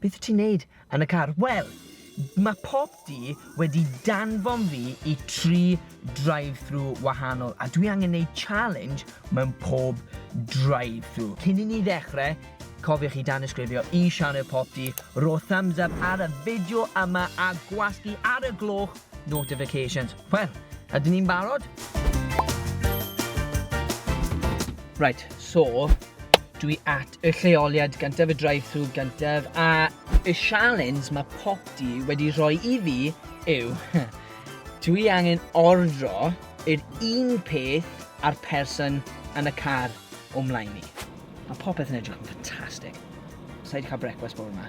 Beth ti'n neud yn y car? Wel, mae pob du wedi danfon fi i tri drive-thru wahanol a dwi angen neud challenge mewn pob drive-thru. Cyn i ni ddechrau, cofiwch i danysgrifio i sianel Pop Du, rho thumbs up ar y fideo yma a gwasgu ar y gloch notifications. Wel, ydyn ni'n barod? Reit, so, dwi at Y lleoliad gyntaf, y drive-thru gyntaf, a y sialens mae popty wedi rhoi i fi yw dw i angen ordro yr un peth a'r person yn y car o mlaen i. Mae popeth yn edrych yn ffantastig. Sa i 'di cael brecwast bore 'ma.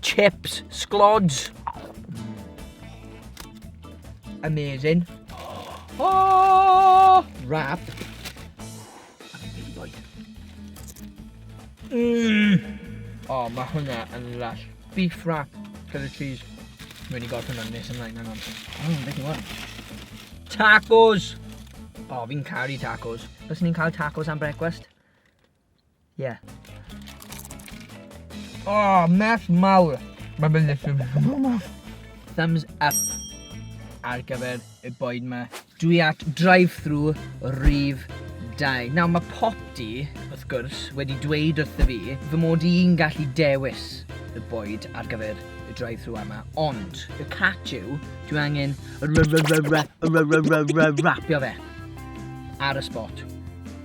Chips, sglods. Amazing. Oh! Wrap. Mmm! O, mae hwnna yn lush. Beef wrap, cydda cheese. Mae wedi gorffen hwnna'n nes ymlaen, hang on. Mmm, beth yw hwn? Tacos! O, fi'n caru tacos. Bys ni'n cael tacos am brecwast? Ie. O, merch mawr. Mae fe'n literally merch mawr. Thumbs up ar gyfer y boed ma. Dwi at drive-thru rhif 2. Nawr mae Popty, wrth gwrs, wedi dweud wrth y fi fy mod i'n gallu dewis y boed ar gyfer y drive-thru yma, ond y catch yw, dwi angen rapio fe ar y spot.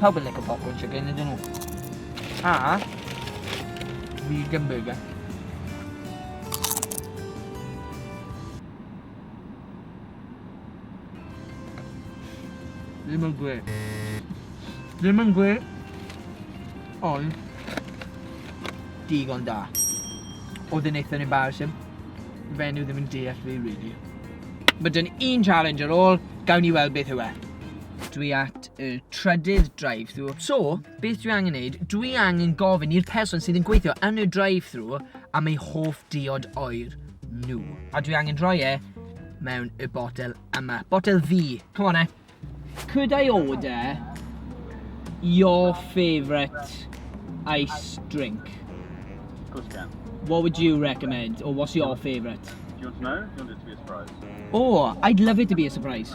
Pawb yn licio popcorn chicken, ydyn nhw? A... Vegan burger. Ddim yn gwe. Ddim yn gwe. Ond... Digon da. Oedd yn eitha embarrassing. Fenyw ddim yn deall fi, really. Mae dyn un challenge ar ôl, gawn ni weld beth yw e. Dwi at y trydydd drive-thru. So, beth dwi angen neud, dwi angen gofyn i'r person sydd yn gweithio yn y drive-thru am ei hoff diod oer nhw. A dwi angen rhoi e mewn y botel yma. Botel fi. Come on, eh? Could I order your favourite ice drink? Of course you can. What would you recommend, or what's your favourite? Do you want to know? Do you want it to be a surprise? Oh, I'd love it to be a surprise.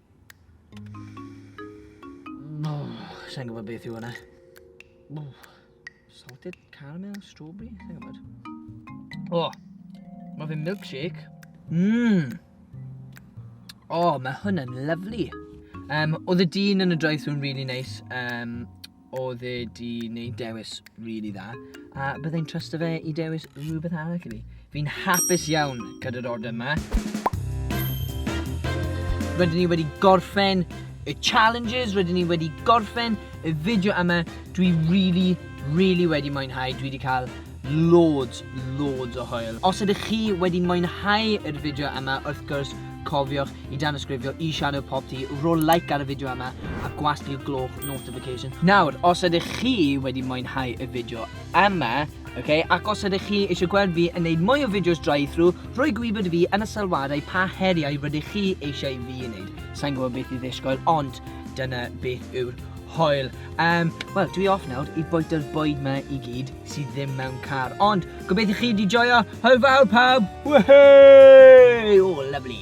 Sa'n gwybod beth yw hwnna. Salted caramel, strawberry, sa'n gwybod. O, mae fe milkshake. Mmm. O, mae hwn yn lyflu. Um, oedd y dyn yn y drive-thru'n really nice. Um, oedd e di wneud dewis really dda, a byddai'n trust fe i dewis rhywbeth arall i mi. Fi'n hapus iawn gyda'r order yma. Rydyn ni wedi gorffen y challenges, rydyn ni wedi gorffen y fideo yma. Dwi really, really wedi mwynhau. Dwi wedi cael Loads, loads o hwyl. Os ydych chi wedi mwynhau yr fideo yma, wrth gwrs, cofiwch i danysgrifio i Shadow Pop Tee, rho like ar y fideo yma, a gwasgu'r gloch notification. Nawr, os ydych chi wedi mwynhau y fideo yma, okay, ac os ydych chi eisiau gweld fi yn neud mwy o fideos drive-through, rhoi gwybod i fi yn y sylwadau pa heriau rydych chi eisiau fi yn neud. Sa'n gwybod beth i ddisgwyl, ond dyna beth yw'r hwyl. Um, Wel, dwi off nawr i bwyta'r bwyd ma i gyd. sydd ddim mewn car. Ond, gobeithio chi wedi joio. Hwyl fawr pawb! Whey! Oh, lovely.